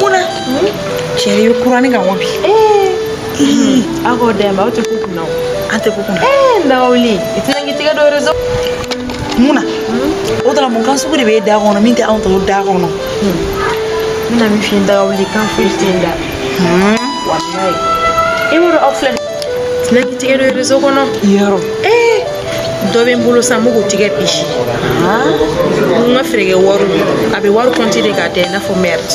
muna chérie yo kurani ka wɔbi aw k'o dɛmɛ aw tɛ ko kunna o an tɛ ko kunna n dagawuli i tɛna k'i tɛgɛ don reseau munna o dara mun kan sugu de b'e da kɔnɔ min tɛ anw tɔw da kɔnɔ n bɛna min f'i ye dagawuli kan foyi tɛ n da walayi i b'a dɔn aw filɛ tɛna k'i tɛgɛ don reseau kɔnɔ yɔrɔ ee dɔ bɛ n bolo sa n b'o k'o tigɛ bi n ka frèrekɛ wari a bɛ wari kɔnti de k'a da i n'a fɔ merde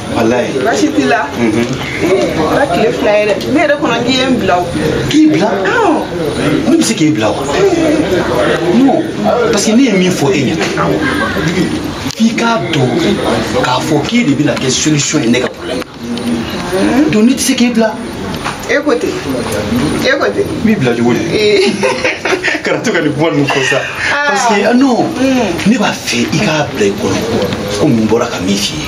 walayi baasi t'i la kɛra tile fila ye dɛ ne yɛrɛ kɔnɔ k'i ye n bila o k'i bila ne bɛ se k'i bila wa non parce que ne ye min fɔ e ɲɛna f'i k'a dɔn k'a fɔ k'e de bɛna kɛ solution ye ne ka problème na donc ne tɛ se k'e bila e ko ten e ko ten n b'i bila cogo di kana to ka nin kuma ninnu fɔ sa parce que non ne b'a fɛ i k'a bila i kɔnɔ ko mun bɔra ka min f'i ye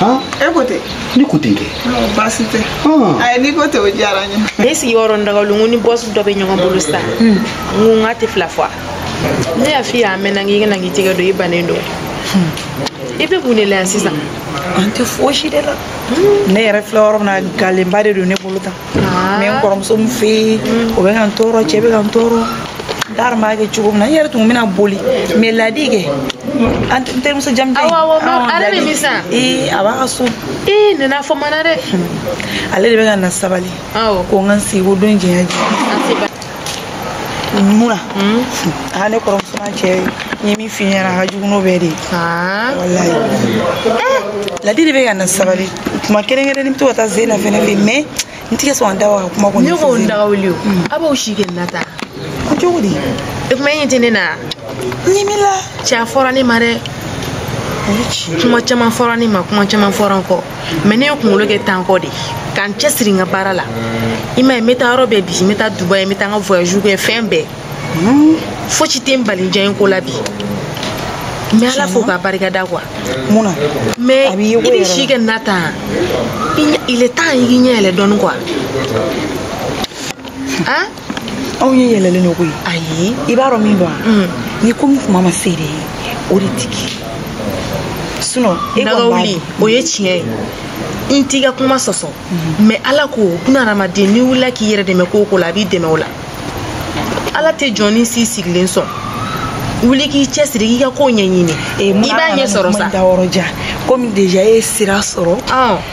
ah e ko ten ne ko ten kɛ Ɔ, baasi tɛ Ah. ayi n'i ko ten o diyara n ye ne sigiyɔrɔ n dagawuli n ko ni boss dɔ bɛ ɲɔgɔn bolo sisan n ko n k'a tile fila fo a ne y'a f'i ye a mɛnna k'i kana k'i tɛgɛ don i bannen don i bɛ mun de la yan sisan an tɛ fosi de la ne yɛrɛ filɛ yɔrɔ min na galèreba de don ne bolo tan Ah. mais n kɔrɔmuso min fɛ yen mm. o bɛ ka n tɔɔrɔ cɛ bɛ ka n tɔɔrɔ n t'a dɔn n b'a kɛ cogo min na n yɛrɛ tun bɛna boli mais ladi kɛ n terimuso jamujan ye ale bɛ min san ee a b'a ka so ee nana fɔ mana dɛ hmm. ale de bɛ ka n lasabali ko n ka n sigi ko don jɛya jɛ muna aa ne kɔrɔmuso n'a cɛ n ye min f'i ɲɛna a ka jugu n'o bɛɛ de ye walayi ladi de bɛ ka n lasabali tuma kɛrɛnkɛrɛnnen n bɛ to ka taa zeyina fɛnɛ fɛ yen mais n tɛ ka sɔn ka da waga ka kuma kɔni ne ko n dagawuli o a b'o si kɛ na tan ko cogo di e kuma e ɲɛ tɛ ne na n ye min la cɛ a fɔra ne ma dɛ kuma caman fɔra ne ma kuma caman fɔra n kɔ mais ne ye kunkolo kɛ tankɔ de ka n cɛ siri n ka baara la i ma ye n bɛ taa yɔrɔ bɛɛ bi n bɛ taa dubaï n bɛ taa n ka voyage kɛ fɛn bɛɛ fosi tɛ n bali diya ko la bi n bɛ ala fo k'a barika da quoi muna mais i bɛ si kɛ na tan il est temps i k'i ɲɛ yɛlɛ dɔɔni quoi anw ɲɛ yɛlɛlen don koyi ayi i b'a dɔn min don wa ni ko min tuma ma se de ye o de tɛ kɛ sinon e dagawuli o ye tiɲɛ ye n t'i ka kuma sɔsɔ mais ala ko buna hadamaden n'i wulila k'i yɛrɛ dɛmɛ ko o ko la a b'i dɛmɛ o la ala tɛ jɔnnin si sigilen sɔn wuli k'i cɛ siri k'i ka ko ɲɛɲini i b'a ɲɛ sɔrɔ sa comme déjà e ye sira sɔrɔ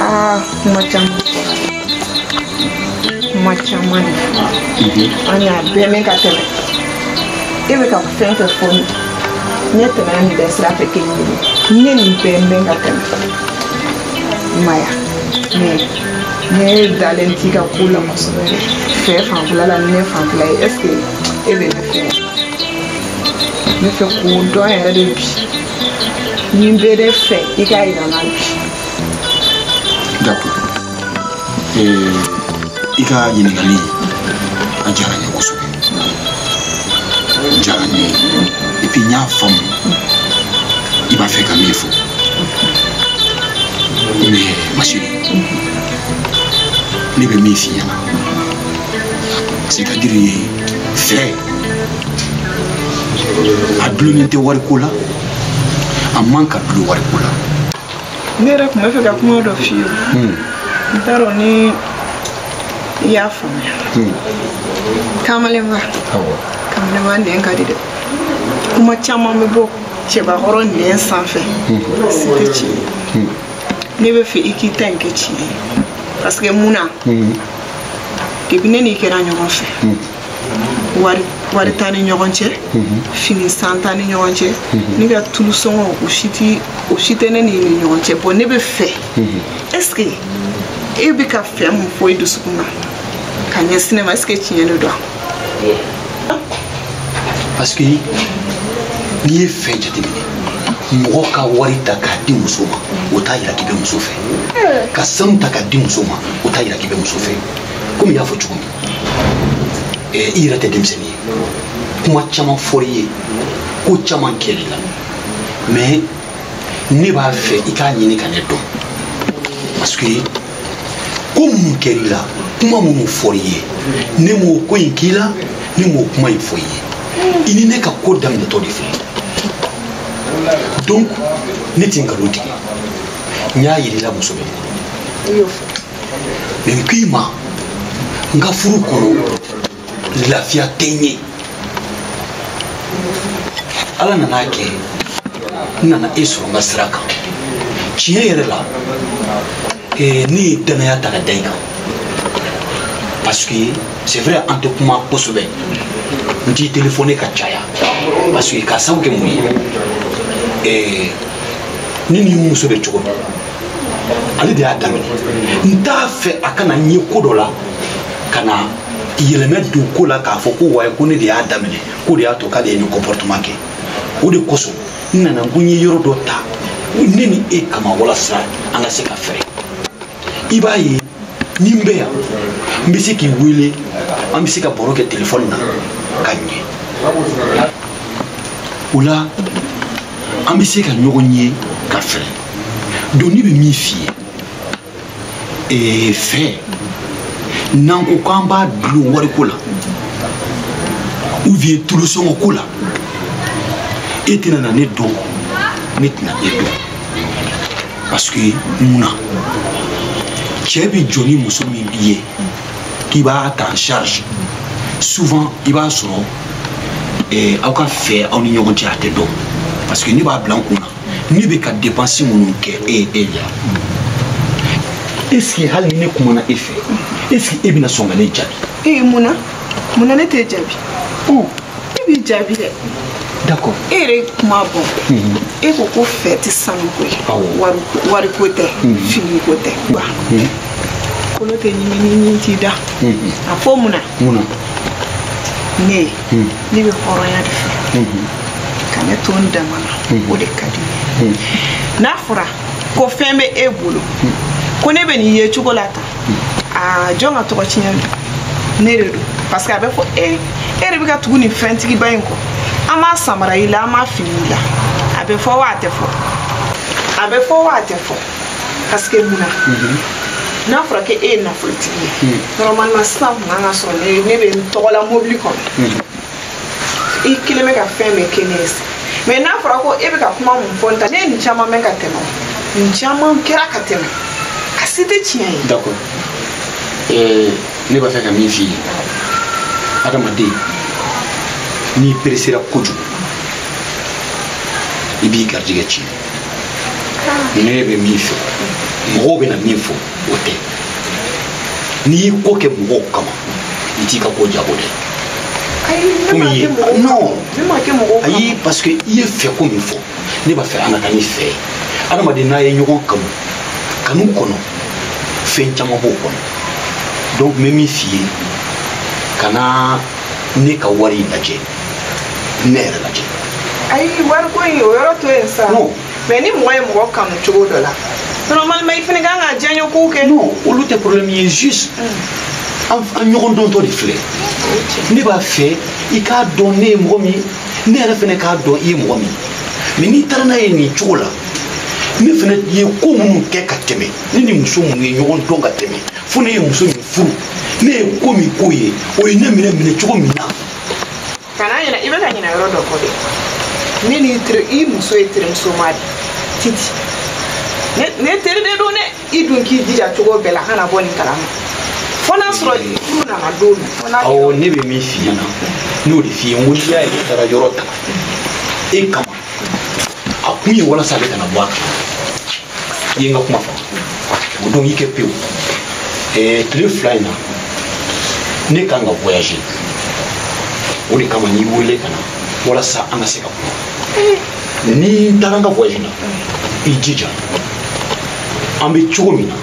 Ah, kuma caman caman de, an y'a bɛɛ mɛn ka tɛmɛ. E bɛ ka fɛn fɛn fɔ ne ne tɛmɛna nin bɛɛ sira fɛ kelen kelen. N ye nin bɛɛ mɛn ka tɛmɛ. I m'a ye wa? Mais ne dalen t'i ka ko la kosɛbɛ dɛ. Fɛ fanfɛla la ni ne fanfɛla ye est ce que e bɛ ne fɛ wa? Ne bɛ fɛ k'o dɔn yɛrɛ de bi. ne bɛ de fɛ i k'a yira n na bi d'accord i ka ɲininkali a diyara n ye kosɛbɛ diyara n ye et puis n y'a faamu i b'a fɛ ka min fɔ mais ma chérie ne bɛ min f'i ɲɛna c'est-à-dire fɛ a dulonnen tɛ wariko la a man ka dulo wariko la ne yɛrɛ tun bɛ fɛ ka kuma dɔ f'i ye hmm. n t'a dɔn ni i y'a faamuya hmm. kamalenba kamalenba nɛn ka di dɛ kuma caman bɛ bɔ cɛbakɔrɔ nɛn sanfɛ hmm. si tɛ tiɲɛ ye ne bɛ fɛ i k'i ta in kɛ tiɲɛ ye parce que mun na depuis ne n'i kɛra ɲɔgɔn fɛ hmm. wari t'an ni ɲɔgɔn cɛ hmm. fini san t'an ni ɲɔgɔn cɛ hmm. ne ka tulu sɔngɔ o si tɛ ne n'i ni ɲɔgɔn cɛ bɔn ne bɛ fɛ est ce que e bɛ ka fɛn mun fɔ i dusukun na ka ɲɛsin ne ma est ce que tiɲɛ de don parce que n'i ye fɛn jateminɛ mɔgɔ ka wari ta k'a di muso ma o t'a yira k'i bɛ muso fɛ ka sanu ta k'a di muso ma o t'a yira k'i bɛ muso fɛ komi i y'a fɔ cogo min eh, i yɛrɛ tɛ denmisɛnnin ye kuma caman fɔr'i ye ko caman kɛr'i la mais ne b'a fɛ i k'a ɲini ka ne dɔn parce que ko minnu kɛr'i la kuma minnu fɔr'i ye ne m'o ko in k'i la ne m'o kuma in fɔ i ye i ni ne ka ko daminɛtɔ de filɛ donc ne tɛ nkalon tigɛ n y'a yir'i la muso bɛ mais n k'i ma n ka furu kɔnɔ lafiya tɛ n ye ala nan'a kɛ n nana e sɔrɔ n ka sira kan tiɲɛ yɛrɛ la eh, ne ye dannaya ta ka da i kan parce que c'est vrai an tɛ kuma kosɛbɛ n t'i téléphoner ka caya parce que k'a sabu kɛ mun ye eh, ne ni n muso bɛ cogo min ale de y'a daminɛ n t'a fɛ a kana n ye ko dɔ la ka na yɛlɛmɛ don ko la k'a fɔ ko wayi ko ne de y'a daminɛ k'o de y'a to k'ale ye nin comportement kɛ o de kosɔn n nana ko n ye yɔrɔ dɔ ta ne ni e kama walasa an ka se ka fɛrɛ i b'a ye ni n bɛ yan n bɛ se k'i wele an bɛ se ka baro kɛ telefɔni na ka ɲɛ o la an bɛ se ka ɲɔgɔn ye ka fɛrɛ donc ne bɛ min f'i ye ee fɛ n'an ko k'an b'a dulon wariko la ou bien tulusɔngɔ ko la e tɛna na ne dɔn ne tɛna e dɔn parce que mun na cɛ bɛ jɔ ni muso min ye k'i b'a ta en charge souvent i b'a sɔrɔ eh, aw ka fɛ aw ni ɲɔgɔn cɛ a tɛ dɔn parce que ne b'a bila n kun na ne bɛ ka dépense minnu kɛ e ye e la est ce que hali ni ne kumana e fɛ est ce que e bɛna sɔn ka ne jaabi. ee mun na. mun na ne t'e jaabi oh. ne b'i jaabi dɛ d'accord e yɛrɛ ye kuma bɔ mhm. e ko ko fɛ tɛ sanuko ye wariko tɛ mhm. finiko tɛ mhm. kolo tɛ ɲimini t'i da a fɔ mun na ne ne bɛ hɔrɔnya de fɛ ka ne to n dama na o de ka di n ye n'a fɔra ko fɛn bɛ e bolo ko ne bɛ nin yecogo la tan aa jɔn ka tɔgɔ tiɲɛ don ne de don parce que a bɛ fɔ e e de bɛ ka tugu nin fɛntigiba in kɔ an ma samara y'i la an ma fini y'i la a bɛ fɔ wa a tɛ fɔ a bɛ fɔ wa a tɛ fɔ parce que mun na n'a fɔra ko e ye nafolotigi ye normalement sisan kun kan k'a sɔrɔ ne ne bɛ n tɔgɔ la mobili kɔnɔ i kelen bɛ ka fɛn bɛɛ kɛ ne ye sa mais n'a fɔra ko e bɛ ka kuma min fɔ nin tan ne ye nin caman mɛn ka tɛmɛ nin caman kɛra ka tɛmɛ a si tɛ tiɲɛ ye. d'accord ɛɛ ne b'a fɛ ka min f'i ye adamaden n'i peresera kojugu i b'i garijɛgɛ tiɲɛ ne bɛ min fɛ mɔgɔw bɛna min fɔ. o tɛ n'i y'i ko kɛ mɔgɔw kama i t'i ka ko ɲɛnabɔ dɛ non ayi parce que i ye fɛ ko min fɔ ne b'a fɛ an ka taa ni fɛ ye adamaden n'a ye ɲɔgɔn kanu kanu kɔnɔ fɛn caman b'o kɔnɔ donc n bɛ min f'i ye kana ne ka wari lajɛ ne yɛrɛ lajɛ ayi wariko in o yɔrɔ to yen sa mais ni mɔgɔ ye mɔgɔ kanu cogo dɔ la normalement i fana kan ka diyaɲɛ kow kɛ non olu tɛ problème ye juste an ɲɔgɔn dɔntɔ de filɛ ne b'a fɛ i k'a dɔn ne ye mɔgɔ min ne yɛrɛ fana k'a dɔn i ye mɔgɔ min mais n'i taara n'a ye nin cogo la ne fana ye ko minnu kɛ ka tɛmɛ ne ni muso minnu ye ɲɔgɔn dɔn ka tɛmɛ fo ne ye muso min furu ne ye ko min k'o ye o ye ne minɛ minɛ cogo min na kana ɲina i bɛ ka ɲina yɔrɔ dɔ kɔ dɛ ne ni i muso ye terimuso ma de titi ne teri de don dɛ i dun k'i jija cogo bɛɛ la kana bɔ nin kalama fo n'a sɔrɔ furu nana don min awɔ ne bɛ min f'i ɲɛna n'o de f'i ye n ko n'i y'a ye ne taara yɔrɔ ta e kama a kun ye walasa ale kana bɔ a kan i ye n ka kuma fɔ o don i kɛ pewu ɛɛ tile fila in na ne kan ka voyager o de kama n'i wele ka na walasa an ka se ka kuma ni n taara n ka voyage la i jija an bɛ cogo min na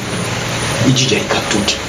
i jija i ka to ten